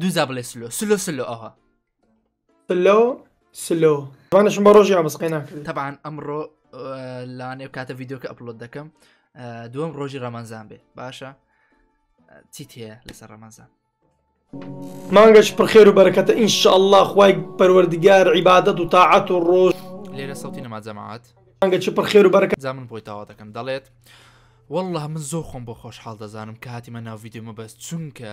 دوزا بڵێ سلۆ سلۆ سلۆ ئەوها سلۆ سلۆ وانشم بە ڕۆژی ئامسقی ناکرد تەبان ئەمڕۆ لانێ کاتە یددیوکە ئەپلۆت دەکەم دوم ڕۆژی ڕەمانزان بێ باشە چیت هەیە لەسەر ڕەمانزان مانگەش پرخێر و بەرەکەتە ئینشاءله خی پەروەردگار عیباەت و تاعات و ڕۆژ لێرە سەڵتی نەما جەماعات مانگە چ پرخێر و بەرەکە زامن بۆی تاوا دەکەم دەڵێت والله من زۆر خۆم بۆ خۆشحاڵ دەزانم کە هاتیمە ناو یددیومە بەس چونکە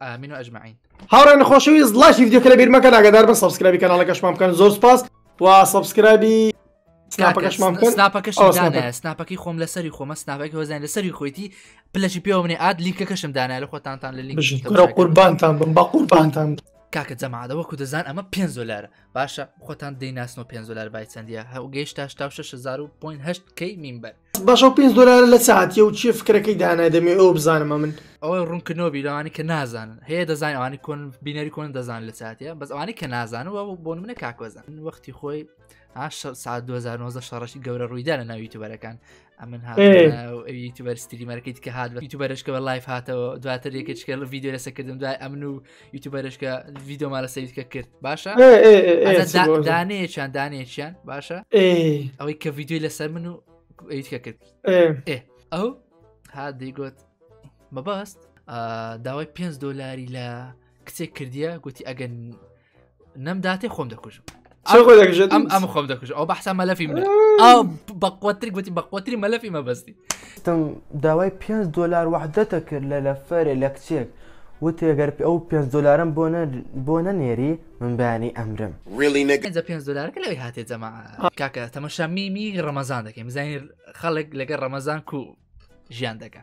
ئامین و ئەجمعین هاوڕێن خۆشەویست لاشی دیکە لە بیرمەکە ناگەدار بە سبسکرابی کەناڵەکەشمان بکەن زۆر سپاس و سبسکرابی سناپەکەی خۆم لەسەری خۆمە سناپەکە وەزان لەسەری خۆیتی پلەشی پێوە منێ ئاد لیکەکەشم دانای لە خۆتانتان لە لینک قوربانتان بم بە قوربانتان کاکە جەماعدە وەکو دەزان ئەمە پێ زۆلارە باشە خۆتان دەیناسنەوە پێ زۆلار بای چەندە هەو گەیشت تا 6 کەی مینبەر باشە ئەو پێنج دۆلارە لە چ هاتیە و چیە فکرەکەی دانای دەمێ ئەو بزانمە من ئەوەی ڕوونکردنەوەبی لەوانی کە نازانن هەیە دەزانانی ئەوانی کۆن بینەری کۆن دەزان لە چاتە بەس ئەوانی کە نازانن و بۆ منە کاکۆزان وەختی خۆی ساعت 2009 شەڕشی گەورە ڕوویدا لە ناوی توبەرەکان ئەمن یوتیوبەرستریمەرەکەیت کە هاات بە یوتیوبەرشکەوە لایف هاتەوە دواتر یەکەچکە لە یددیو لەسەکردن دوای ئەمن و یوتوبەرش کە ڤیددیوما لە سەیرکە کرد باشە دانەیەکیان دانەیەکیان باشە ئەوەی کە ڤیددیوی لەسەر من و ئەیتکە کرد ئەو ها دەیگوت مەباست داوای پێ دلاری لە کچێک کردیە گوتی ئەگەن نەم داتێ خۆم دەکوژم ئەم ئەم خۆم دەکوژ ئەو بەحسا مەلەفی من ئەو بەقوتر گوتی بەقوتری مەلەفی مەبەستی تم داوای 5 دلار وحدەتە کرد لە لەفەرێ لە کچێک وتێگەر ئەو 5 دلارم بۆ بۆ نەنێری من بەیانی ئەمرم ریلیجە 5 دلارکە لەوی هاتێ جەما کاکە تەمەشا میمی ڕەمەزان دەکەین بزانین خەڵک لەگە ڕەمەزان کو ژیان دەکە.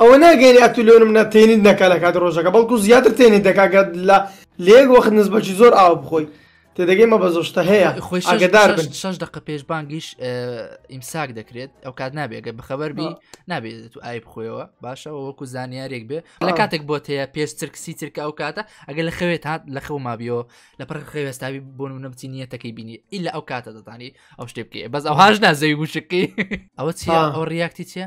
ئەوە ناگەینە ئەتو لۆنمونە تێنیت نەکا لە کاتی ڕۆژەکە بەڵکو زیاتر تێنیت دەکا گەر لە لە یەک وەخت نزبەکی زۆر ئاو بخۆی تێدەگەی مە بە زۆشتە هەیە خۆی ئەگەدار بن شش دقە پێش بانگیش ئیمساک دەکرێت ئەو کات نابێگە بەخەبەر بی نابێت تو ئای بخۆیەوە باشەوە وەکو زانیارێک بێ لە کاتێک بۆ تەیە پێش ترکسی ترکە ئەو کاتە ئەگەر لە خەوێت هاات لە خەو مابیەوە لە پڕ خەوێستاوی بۆن و نەبچی نیەتەکەی بینی ئیلا ئەو کاتە دەتانی ئەو شتێ بکەێ بەس ئەوهاش نازەوی وشکی ئەوە چی ئەو ریاکتی چیە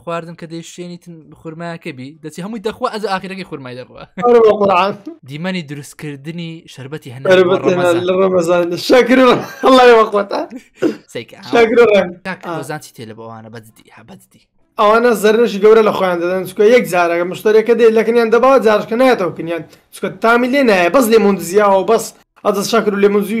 خواردن کە دەیشتێنیتن خورمایەکە بی دەچی هەمووی دەخوا ئەز ئاخیرەکەی خورمای دەڕوە دیمەنی دروستکردنی شربەتی هەن ڕمەزان شکر سەیکزانسی تێ لە بەوانە بەدی هەبەدی ئەوانە زەرنشی گەورە لە خۆیان دەدەن چکە یەک جارەکە مشتەرەکە دێت لەکنیان دەباوە جارشکە نایەتەوە کنیان چکە تامی لێ نایە بەس لێ مندزیاوە بەس ئەدە شکر و لێ منزی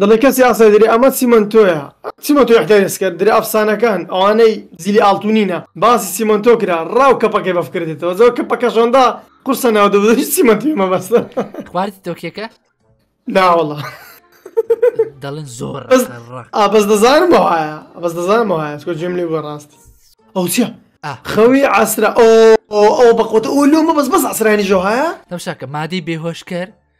دەڵێ کەسی ئاسای دەرێ ئەمە چیمەنتۆیە چیمەتۆی ئەحتیاریس کرد درێ ئەفسانەکان ئەوانەی زیلی ئاڵتونینە باسی چیمەنتۆ کرا ڕاو کەپەکەی بەف کردێتەوە زۆر کە پەکەشۆندا قورسە ناو دەبێت هیچ چیمەنتی مەبەستە خواردی تۆکیەکە ناوەڵە دەڵێن زۆر ئابەز دەزانم وایە بەس دەزانم وایە چۆ جێم لێ بۆ ڕاست ئەو چیە خەوی ئاسرا ئەو بەقوتە ئەو لۆمە بەس بەس ئاسرانی ژۆهایە دەمشاکە مادەی بێهۆشکەر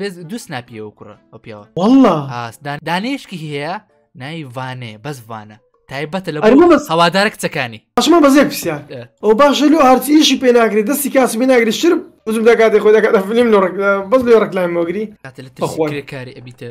بێز دوو سناپی ئەو کوڕە ئەو پیاوە والله ئاسدان دانێشکی هەیە نای وانێ بەس وانە تایبەتە لە ئەرمە بەس هەوادارە کچەکانی ئەشمە بەزێک پرسیار ئێ. ئەو باشە لۆ هەرچی ئیشی پێ ناگری دەستی کاسی پێ ناگری شرب وزم دەکاتی خۆی دەکاتە فلیم لۆ ڕێک- بەس لێ ڕێکلایم مۆگری کاتە لە بەخۆن. ترسکرێکاری ئەبیتە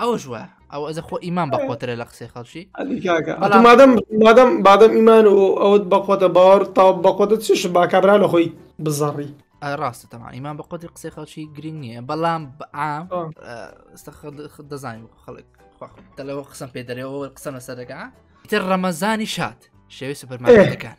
ئەوش وە ئەو ئەزە خۆ ئیمان بە خۆترە لە قسەی خەڵکی مادەم مادەم بادەم ئیمان و ئەوت بەخۆتە باوەڕ تا بەخۆتە چش با کابرا لە خۆی بزەڕی ڕاستە تەما ئیمان بە قۆتی قسەی خەڵکی گرنگ نییە بەڵام بەعام دەزانین خەڵک دەلەوە قسم پێ دەرەوە قسەم لەسەر دەکە تر ڕەمەزانی شاد شێوی سوپەرمانەکان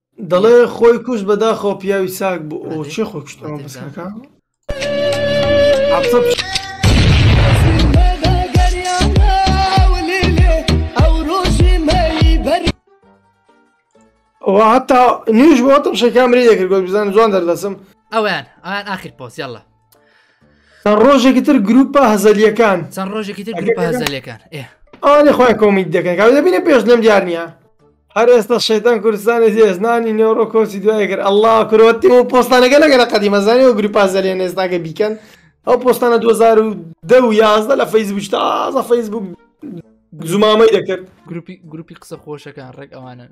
دەڵێ خۆی کوشت بەداخەوە پیاوی چاک بوو ئەو چێ خۆی کوشت ئەوە بەسکەکە عەفسە پیش- ئەوە هەتا نوێژ بۆتم شەکامری دەکرد گۆت بزانم جوان دەردەسم ئەویان ئەویان ئاخیر پۆست یاڵڵا چەند ڕۆژێکی تر گروپە هەزەلیەکان چەند ڕۆژێکی تر گروپە هەزەلەکان ئەوانێ خۆی کۆمیت دەکەن کاو دەبینە پێش لەم دیار نیە هەر ئێستا شێتان کوردستانی هێزنانی نێوڕۆ کۆچی دوای کرد ئەله کرۆتی و پۆستانەکە لەگەرە قەدیمەزانانی و گروپا زەلێن ئێستاگە بیکەن ئەو پۆستانە 2010 و یازدە لە فەیسبوک تازە فەیسبوک زمامەی دەکرد گروپی گروپی قسە خۆشەکان ڕێک ئەوانن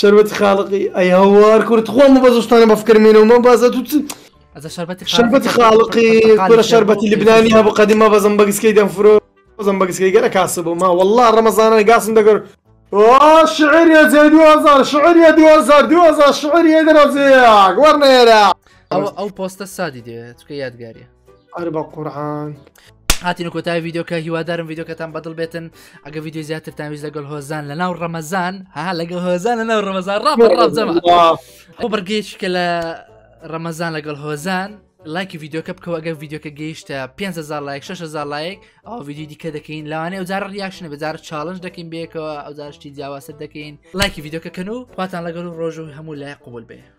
شەربەتی خاڵقی ئەی هەوار کورە تخوا ئەمە بە زستانە بە فکر مێنەوە مە بازە تو چ ئەزە شەربەتی شەربەتی خاڵقی کورە شەربەتی لبنانی هەبوو قەدیم مە بەزم بەگسکەی دەمفرۆ بەزم بەگسکەی گەرە کاسە بوو ما والله ڕەمەزانە گاسم دەگەر آه شعر يا زي دو هزار شعر يا دو هزار دو هزار شعر يا درزيك ورنيرا ئەو ئەو پۆستە سادی دەوێت چکە یادگاریە ئەر بە قورعان هاتین کۆتای یددیوکە هیوادارم یددیوکەتان بەدڵ بێتن ئەگە یددیو زیاتر تاویز لەگەڵ هۆزان لە ناو ڕەمەزان ها لەگەڵ هۆزان لە ناو ڕەمەزان ڕام ڕازەمە ئەو بڕگەیش کە لە ڕەمەزان لەگەڵ هۆزان لایکی یددیوکە بکەوە ئەگەر یددیوکە گەیشتە 500 لایک 600 لایک ئەو یددیو دیکە دەکەین لەوانەیە جار ریاکشنە بەجار چاڵنج دەکەین بێکەوە ئەو جارشتی جیاواسە دەکەین لایکی یددیوکەکەن و خواتان لەگەڵ ڕۆژ و هەموو لای قوبول بێ